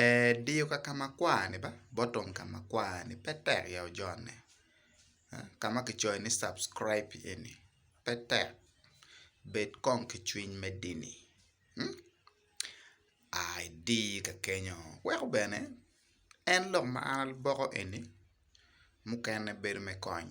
Ee, diyo ka ka makwar-ni ba, bottom ka makwar-ni pe tek ya ojone. Ka ma kicoyo ni subscribe eni pe tek, bed kong ki cwiny me dini, a idi ka kenyo. Weko bene en lok ma an aluboko eni mukene bedo me kony.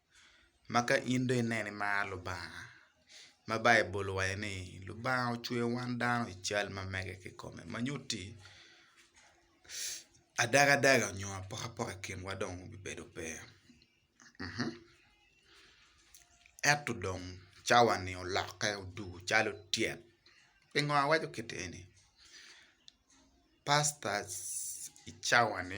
ma ka in dong ineno imaro Lubanga ma Baibul owaco ni Lubanga ocweyo wan dano i cal ma mege kikome ma nyutti adagadaga nyo apokapoka i kinwa dong obibedo pe ento dong cawa-ni olokke odwogo calo tyet pingo awaco kit eni pastors i cawa-ni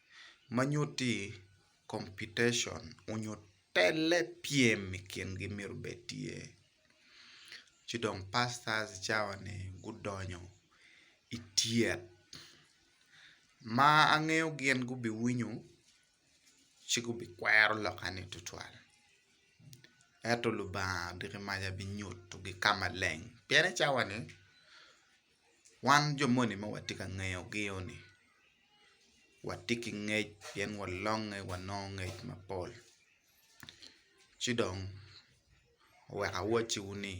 ma nyutti computation onyo telle pyem i kingi myero obed tye ci dong pastors i cawa ni gudonyo i tyet ma angeyo gin gubiwinyo ci gubikwero loka ni tutwal ento Lubanga odiki maca binyutu gi ka maleng pien i cawa ni wan jo moni ma watye ka ngeyo gi ni watye ki ngec pien walonge wanongo ngec mapol ci dong oweko awacciwu ni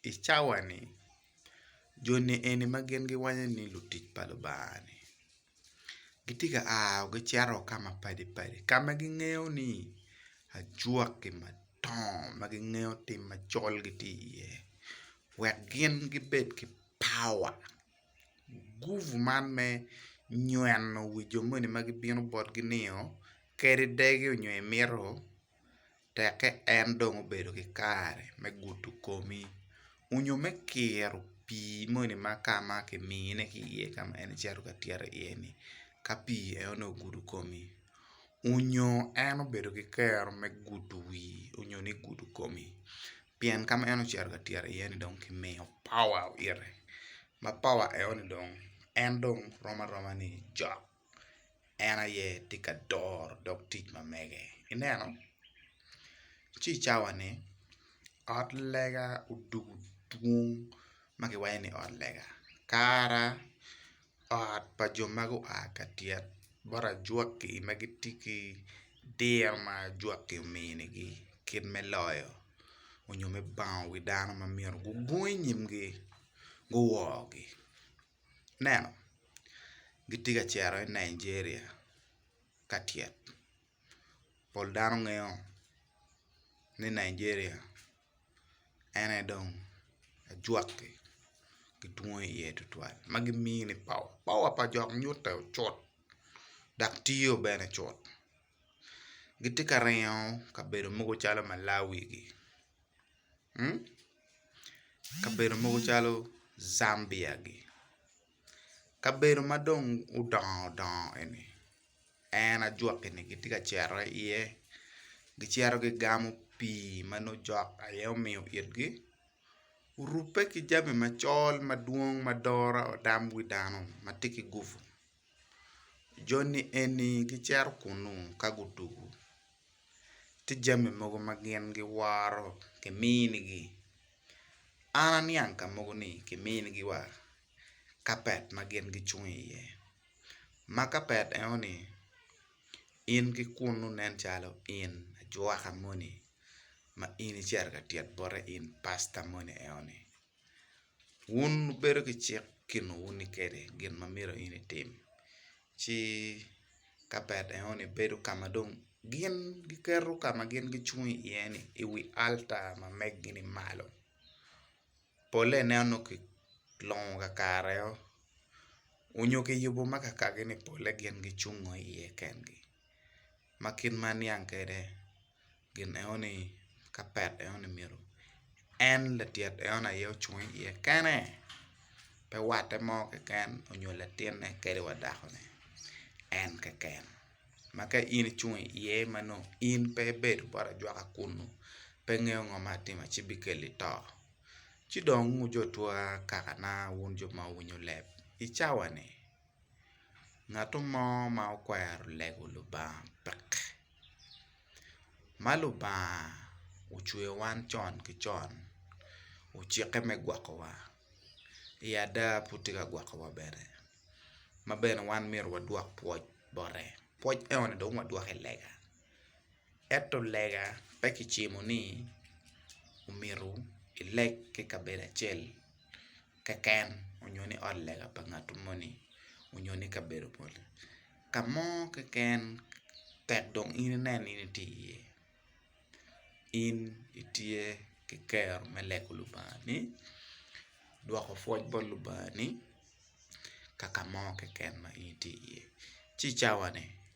i cawa-ni joni eni ma gin giwaco ni lutic pa Lubanga-ni gitye ka a gicito ka mapadi padi ka ma gingeyo ni ajwaki madongo ma gingeyo tim macol gitye iye wek gin gibed ki pawa. Gurup man me nyweno wi jo moni ma gibino botgi nio kadi degi nyo imito tekke en dong obedo ki kare me gudo komi nyo me kiro pii moni ma ka ma kimine ki iye ka ma en ecito ka tyero iye ni ka pii en onongo ogudo komi nyo en obedo ki kero me gudo wii nyo ni gudo komi pien ka ma en ocito ka tyero iye ni dong kimiyo power ite ma power eno ni dong en dong rom aroma ni cok en aye tye ka doro dog tic ma mege ineno ci i cawa ni ot lega odwogo dwong ma kiwaco ni ot lega kara ot pa jo ma gua ka tyet bot ajwaki ma gitye ki diro ma ajwaki ominigi kit me loyo nyo me bango wi dano ma myero gugung i nyimgi guwogi ineno gitye ka cito i Nigeria ka tyet. pol dano ngeyo ni Nigeria en aye dong ajwaki ki twongo iye tutwal ma gimiyo ni power, power pa jok nyutte cut dok tiyo bene cut gitye ka ringo kabedo mogo calo Malawi gi kabedo mogo calo Zambia gi. Kabedo ma dong odongo dongo eni en ajwaki ni gitye ka cito iye gicito gigamo pii ma nongo jok aye omiyo itgi orubbe ki jami macol madwong ma doro tam wi dano ma tye ki gupu joni eni gicito kunnu ka gutuku tye jami mogo ma gin giworo kiminigi. An aniang ka mogo ni kiminigi wa kapet ma gin gicung iye, ma kapet eno ni in ki kunnu nen calo in ajwaka moni ma in icito ka tyet bote in pasta moni eno ni. Wun wubedo ki cik kinwu ni kene gin ma myero in itim. ci kapet enoni bedo ka ma dong gin giketo ka ma gin gicung iye-ni i wi alta ma meggi-ni malo polle inen nongo kilongo kakareneo nyo kiyubo ma kakagi-ni polle gin gicungo iye kengi ma kit ma aniang kwede. gin eno ni kapet eno ni myero en latyet eno ni aye ocung i iye kene pe watte mo keken onyo latinne kadi wa dakone en keken ma ka in icung i iye ma nongo in pe ibedo bot ajwaka kunu pe ingeyo ngo ma atimo ci bikeli to ci dong wujotwa kakana wun jo ma wuwinyo leb icawani Ngato mo ma okwero lego Lubanga pek ma Lubanga ocweyo wan con ki con ocikke me gwokowa i ada pud tye ka gwokowa bene ma bene wan myero wadwok pwoc bote pwoc enoni dong wadwokke lega. Ento lega pe kicimo ni omyero ileg ki i kabedo acel keken nyo ni ot lega pa ngat moni nyo ni kabedo moni ka mo keken tek dong in inen ni in itye iye in itye ki kero me lego lubangani, dwoko pwony bot lubangani ka ka mo keken ma in itye iye ci i cawane.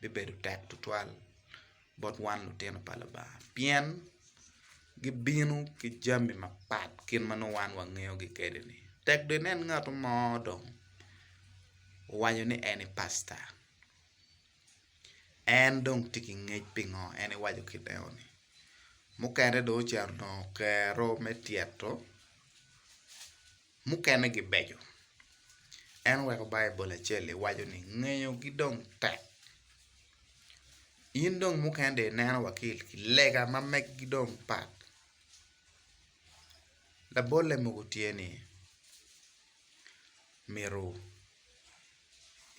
bibedo tek tutwal bot wan lutino pa Lubanga pien gibino ki jami mapat kit ma nongo wan wangeyogi kwede-ni. Tek dong inen ngat mo dong owaco ni en pasta en dong tye ki ngec pingo en iwaco kit enoni. Mukene dong ocito onongo kero me tyeto Mukene gibeco. En oweko Baibul acel-li waco ni, Ngeyogi dong tek. In dong mukene dong ineno wa ki i lega ma megi dong pat. Labolle mogo tye ni myero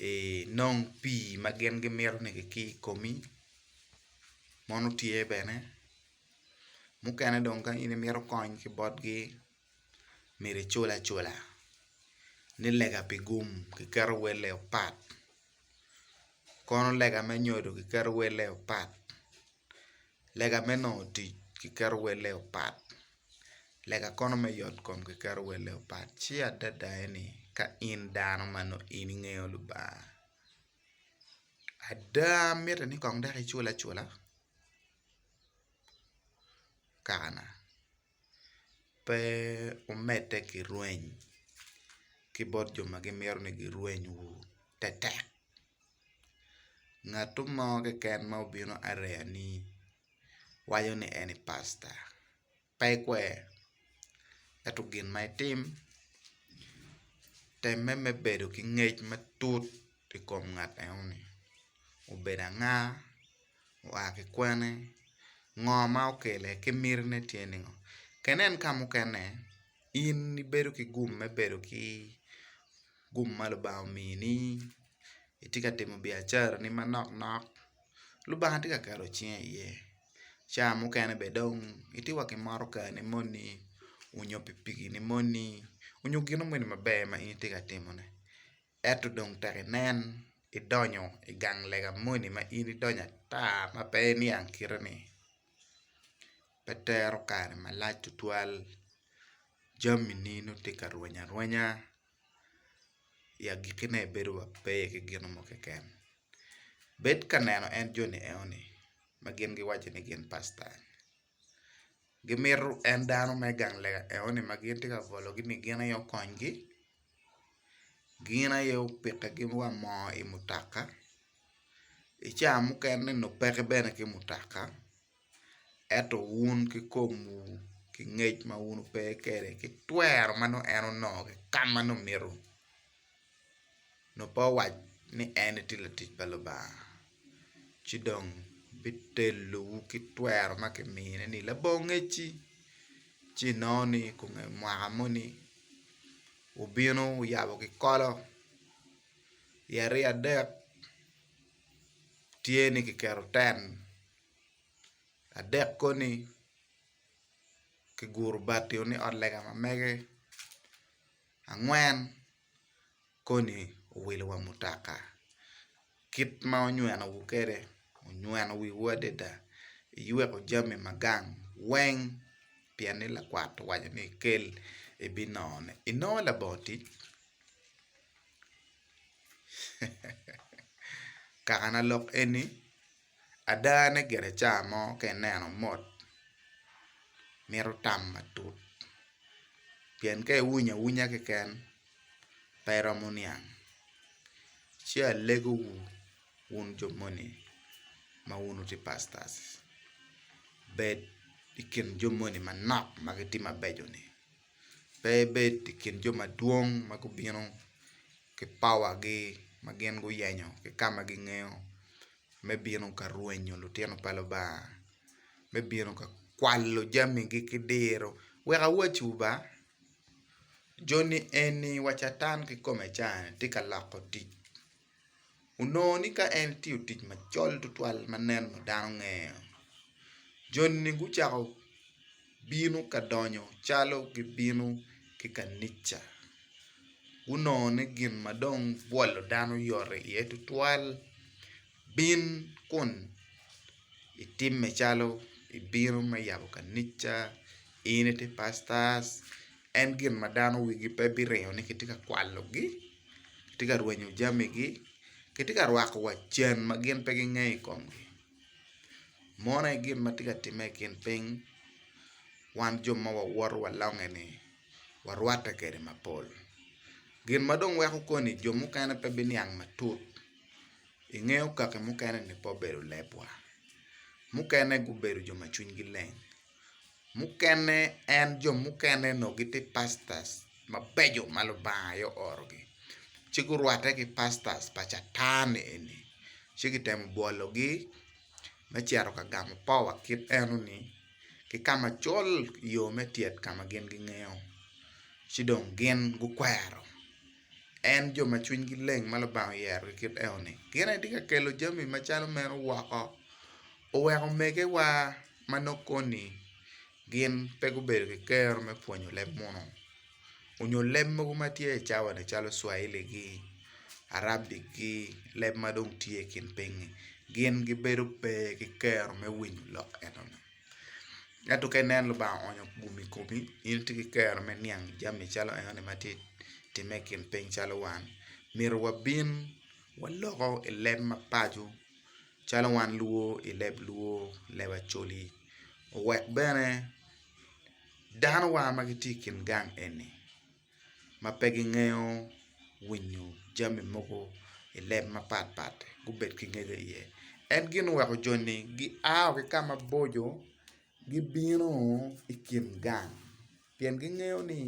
inong pii ma gin gimito-ni ki i komi mono tye bene. Mukene dong ka in imito kony ki botgi myero icul acula ni lega pi gum kiketo welle opat kono lega me nyodo kiketo welle opat lega me nongo tic kiketo welle opat lega kono me yot kom kiketo welle opat ci adada ni ka in dano ma nongo in ingeyo Lubanga ada mitte ni kong dok icul acula kaka na. pe wumedde ki rweny ki bot jo ma gimito ni girwenywu tetek. Ngatu mo keken ma obino areyani waco ni en aye pasta pe ikwer ento gin ma itim temme me bedo ki ngec matut i kom ngat enoni obed anga. oa ki kwene, ngo ma okele ki mitine tye nen ngo ka inen ka mukene in ibedo ki gum me bedo ki gum ma Lubanga omini itye ka timo biacarani manok nok Lubanga tye ka keto cinge iye ca mukene bene dong itye wa ki motokani moni nyo pikipikini moni nyo gin moni maber ma in itye ka timone. Ento dong tek inen idonyo i gang lega moni ma in idonyo ata ma pe iniang kite-ni. Pe tero kare malac tutwal, jamini nongo tye ka rweny arwenya, i agikkine ibedo wa pe i ki gin mo keken. Bed ka neno en joni enoni ma gin giwaco ni gin pasta. gimito en dano me gang lega enoni ma gitye ka bologi ni gin aye okonygi gin aye opitigi wa moo i mutoka i ca mukene ni onongo peke bene ki mutoka ento wun ki komu ki ngec ma wun wupe kwede ki twero ma nongo en onongo ki ka ma nongo mito. nongo pe owac ni en etye latic pa Lubanga, ci dong bitelowu ki twero ma kimine ni labongo ngecci, ci inongo ni kunge mwaka moni wubino wuyabo kikolo i ariya adek tye ni kiketo ten adek koni kiguro bati ni ot lega ma mege. Angwen, koni owilo wa mutoka kit ma onyweno wu kwede, onyweno wiwu adada, iyweko jami ma gang weng pien ni lakwat owaco ni kel ibinone. Inongo labongo tic? Kakana lok eni Ada ne gire ca mo ka ineno mot mito tam matut pien ka iwunyo awunya keken pe iromo niang ci alegowu wun jo moni ma wun wutye pastors bed i kin jo moni manok ma gitye mabeco-ni. pe ibed i kin jo madwong ma gubino ki pawagi ma gin guyenyo ki ka ma gingeyo me bino ka rwenyo lutino pa Lubanga me bino ka kwalo jamigi ki diro. Wek awacciwu ba, joni eni wa Catan kikome ca-ni tye ka loko tic. onongo ni ka en tiyo tic macol tutwal ma neno dano ngeyo joni gucako bino ka donyo calo gibino ki kanica gunongo ni gin ma dong bwolo dano yot iye tutwal bin kun itimme calo ibino me yabo kanica in ite pastor. En gin ma dano wigi pe biringo ni kitye ka kwalogi, kitye ka rwenyo jamigi, kitye ka rwako wa cen ma gin pe gingeyo i komgi. Mono aye gin ma tye ka timme i kin piny wan jo ma wawoto wa longe-ni warwatte kwede mapol. Gin ma dong weko koni jo mukene pe biniang matut, ingeyo kaki mukene-ni pe obedo lebwa, mukene gubedo jo ma cwinygi leng. mukene en jo mukene onongo gitye pastors mabeco ma Lubanga aye oorogi ci gurwatte ki pastors pa Catan-ni eni ci kitemo bwologi me cito ka gamo powa kit enoni ki ka macol i yo me tyet ka ma gin gingeyo ci dong gin gukwero en jo ma cwinygi leng ma Lubanga oyerogi kit enoni gin aye tye ka kelo jami macalo meno woko oweko omegewa ma nok koni gin pe gubedo ki kero me pwonyo leb munu onyo leb mogo ma tye i cawani calo cwaili gi, arabic gi leb ma dong tye i kin pinyi gin gibedo pe ki kero me winyo lok enoni ento ka inen Lubanga oonyo gumi i komi in itye ki kero me niang jami calo enoni ma tye ka timme i kin piny calo wan myero wabin waloko i leb mapaco. calo wan luo i leb luo leb acholi owek bene dano wa ma gitye i kin gang eni ma pe gingeyo winyo jami mogo i leb mapat pat gubed ki ngege iye en gin oweko joni gia wa ki ka maboco gibino i kin gang. pien gingeyo ni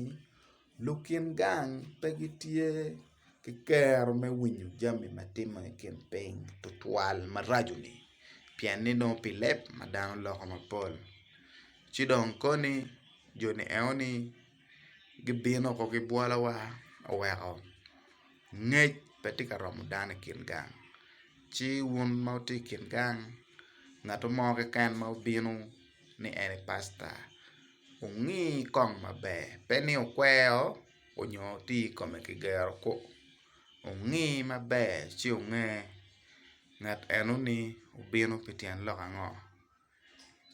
lukin gang pe gitye ki kero me winyo jami ma timme i kin piny tutwal maraco-ni pien ni nongo pi leb ma dano loko mapol ci dong koni jo-ni enoni gibino woko ki bwolowa oweko ngec pe tye ka romo dano i kin gang ci wun ma wutye i kin gang ngat mo keken ma obino ni en aye pasta. Wungi kong maber, pe ni wukwero nyo wutye i kome ki gero kwo. Wungi maber ci wunge ngat eno-ni obino pi tyen lok ango,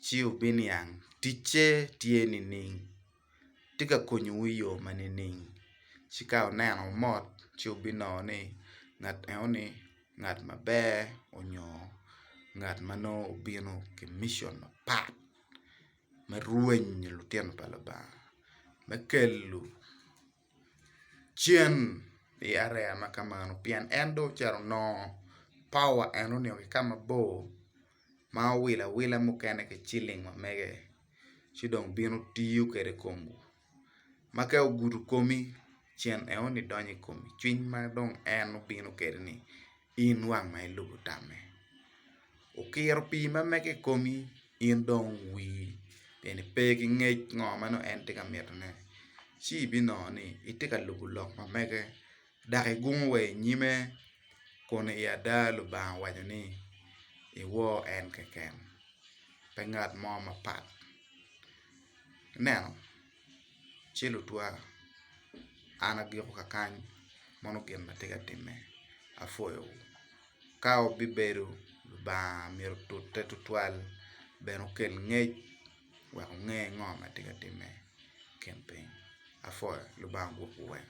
ci wubiniang ticce tye nining, tye ka konyowu i yo ma nining. Ci ka wuneno wumot ci wubinongo ni ngat eno-ni ngat maber nyo ngat ma nongo obino ki mition mapat. me rwenyo lutino pa Lubanga, me kelo cen i area ma ka mano pien en dong ocito onongo power en oningo ki ka mabor ma owilo awila mukene ki ciling ma mege ci dong bino tiyo kwede i kom ma ka ogudo komi cen aye onongo idonyo i kome cwiny ma dong en obino kwede ni in wang ma ilubo tamme okiro pii ma mege i komi in dong owii pien ni pe ki ngec ngo ma nongo en tye ka mitone ci ibinongo ni itye ka lubo lok ma mege dok igungo wa i nyime, kun i ada Lubanga owaco ni, Iwor en keken, pe ngat mo mapat. Ineno? Ci lutwa, an agiko kakany, meno gin ma tye ka timme. Apwoyowu. Ka wubibedo Lubanga myero otute tutwal, bene okel ngec. wek onge ngo ma tye ka timme i kin piny. Apwoyo Lubanga gwokwu weng.